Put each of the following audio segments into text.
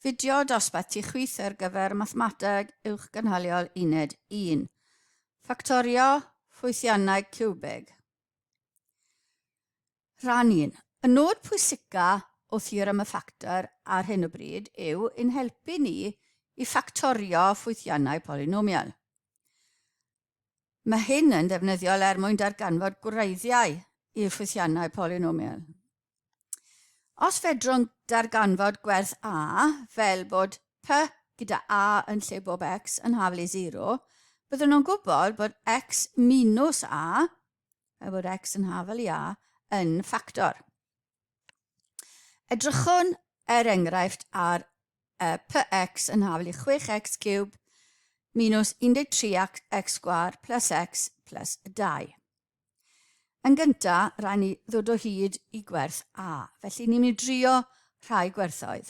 Fideo dosbarthu chwith ar gyfer mathemateg uwch gynhaliol uned 1. Ffactorio ffwythiannau ciwbig. Rhan 1. Y nod pwysica o theorem y ffactor ar hyn o bryd yw yn helpu ni i ffactorio ffwythiannau polynomial. Mae hyn yn ddefnyddiol er mwyn darganfod gwreiddiau i'r ffwythiannau polynomial. Os fedrwn darganfod gwerth a, fel bod p gyda a yn lle bob x yn haflu 0, byddwn nhw'n gwybod bod x minus a, fel bod x yn hafel i a, yn ffactor. Edrychwn er enghraifft ar uh, px yn hafel i 6x cube minus 13x sgwar plus x plus 2. Yn gyntaf, rhaid ni ddod o hyd i gwerth a, felly ni'n mynd i drio rhai gwerthoedd.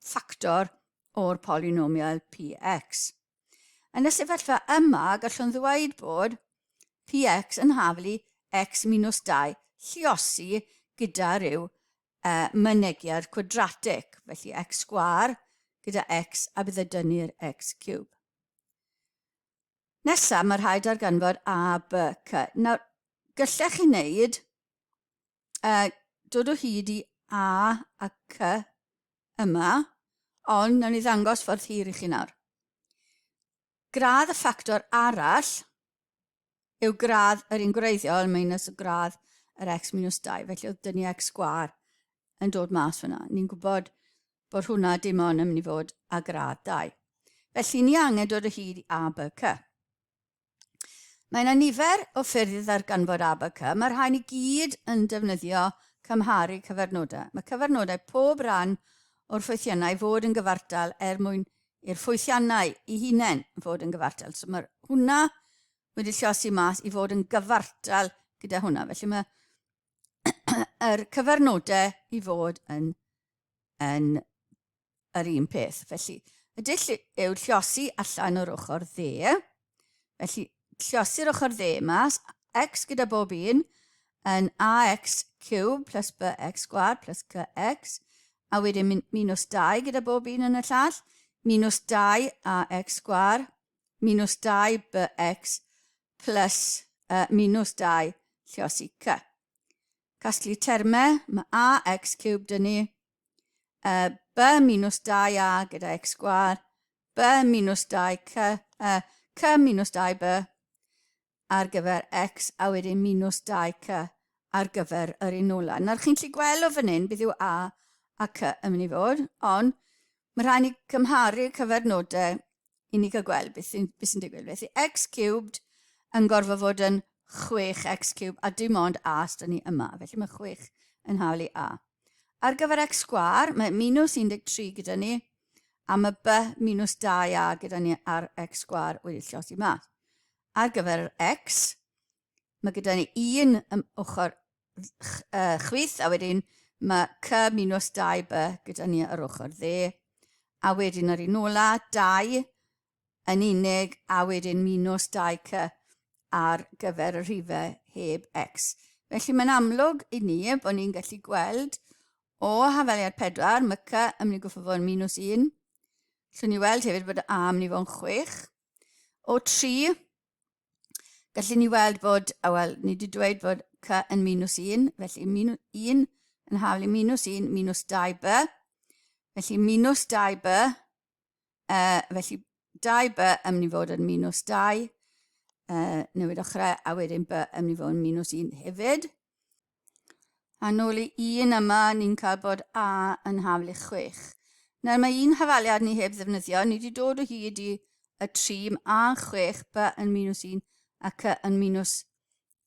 ffactor o'r polynomial px. Yn y sefyllfa yma, gallwn ddweud bod px yn haflu x minus 2 lliosi gyda rhyw uh, mynegiad cwadratig, felly x sgwar gyda x a bydd y dynnu'r x cube. Nesaf, mae rhaid ar ganfod a, b, c. Nawr, gyllech chi wneud uh, dod o hyd i A a C yma, ond nawn ni ddangos ffordd hir i chi nawr. Gradd y ffactor arall yw gradd yr un gwreiddiol minus y gradd yr x minus 2, felly oedd dynnu x sgwar yn dod mas fyna. Ni'n gwybod bod hwnna dim ond yn mynd i fod a gradd 2. Felly ni angen dod o hyd i A, B, C. Mae yna nifer o ffyrdd i ddarganfod ABK. Mae'r rhain i gyd yn defnyddio cymharu cyfarnodau. Mae cyfarnodau pob rhan o'r ffwythiannau fod yn gyfartal er mwyn i'r ffwythiannau i hunain fod yn gyfartal. So mae hwnna wedi llosi mas i fod yn gyfartal gyda hwnna. Felly mae yr cyfarnodau i fod yn, yn yr un peth. Felly, y dull yw llosi allan o'r ochr dde. Felly, llosi'r ochr dde mas, x gyda bob un yn ax cube plus bx sgwad plus cx, a wedyn minus 2 gyda bob un yn y llall, minus 2 ax sgwad, minus 2 bx plus uh, minus 2 llosi c. Casglu termau, mae ax cube dyn ni, Uh, B minus 2A gyda X sgwar, B minus 2C, uh, C minus 2B ar gyfer X a wedyn minus 2C ar gyfer yr un ola. Nawr chi'n lli gweld o fan hyn bydd yw A a C yn mynd i fod, ond mae rhaid ni cymharu cyfernodau i ni cael gweld beth sy'n sy digwydd. Felly x cubed yn gorfod fod yn 6x cube a dim ond a sydd ni yma. Felly mae 6 yn hawlu a. Ar gyfer X sgwâr, mae minus 13 gyda ni, a mae B minus 2A gyda ni ar X sgwâr wedi llosi mas. Ar gyfer yr X, mae gyda ni un ym ochr uh, chwith, a wedyn mae C minus 2B gyda ni ar ochr dde, a wedyn yr un ola, 2 yn unig a wedyn minws 2C ar gyfer y rhifau heb X. Felly mae'n amlwg i ni bod ni'n gallu gweld o hafaliad 4, mae C yn mynd i gwffo fo'n minws 1. Llwn ni weld hefyd bod A yn mynd i fo'n 6. O 3, gallu ni weld bod, a wel, ni wedi dweud bod c yn minus 1, felly minus 1 yn haflu minus 1, minus 2b. Felly minus 2b Uh, felly, 2 by yn mynd i fod yn minus 2, uh, newid ochrau, a wedyn by yn mynd i fod yn minus 1 hefyd. A nôl i 1 yma, ni'n cael bod a yn hafl i 6. Nawr mae un hafaliad ni heb ddefnyddio, ni wedi dod o hyd i y 3 a 6 by yn minus 1 ac yn minus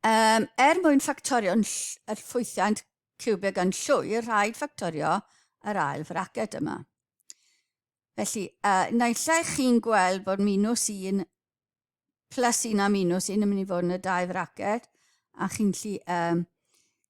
Um, er mwyn ffactorio yr ffwythiant ciwbig yn llwyr, rhaid ffactorio yr ail fraced yma. Felly, uh, naill ai chi'n gweld bod minus 1 plus 1 a minus 1 yn mynd i fod yn y dau fraced, a chi'n lli, um,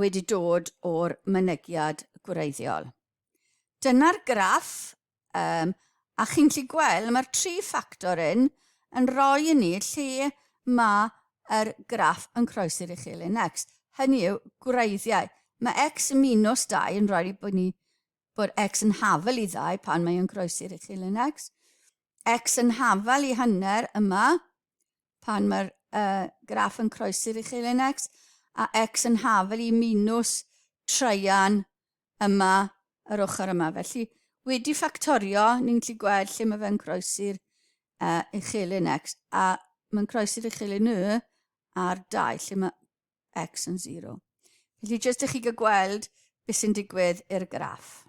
wedi dod o'r mynegiad gwreiddiol. Dyna'r graff um, a chi'n gallu gweld mae'r tri ffactor yn yn rhoi i ni lle mae yr graff yn croesi'r uchelyn next. Hynny yw gwreiddiau. Mae x yn minus 2 yn rhoi bod ni bod x yn hafel i ddau pan mae yn croesi'r uchelyn x. x yn hafel i hanner yma pan mae'r uh, graff yn croesi'r uchelen x, a x yn hafel i minus traean yma yr ochr yma. Felly, wedi ffactorio, ni'n gallu gweld lle mae fe'n croesi'r uh, uchelen x, a mae'n croesi'r uchelen y a'r 2, lle mae x yn 0. Felly, jyst i chi gael gweld beth sy'n digwydd i'r graff.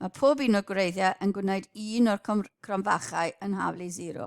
Mae pob un o'r gwreiddiau yn gwneud un o'r cromfachau yn haflu zero.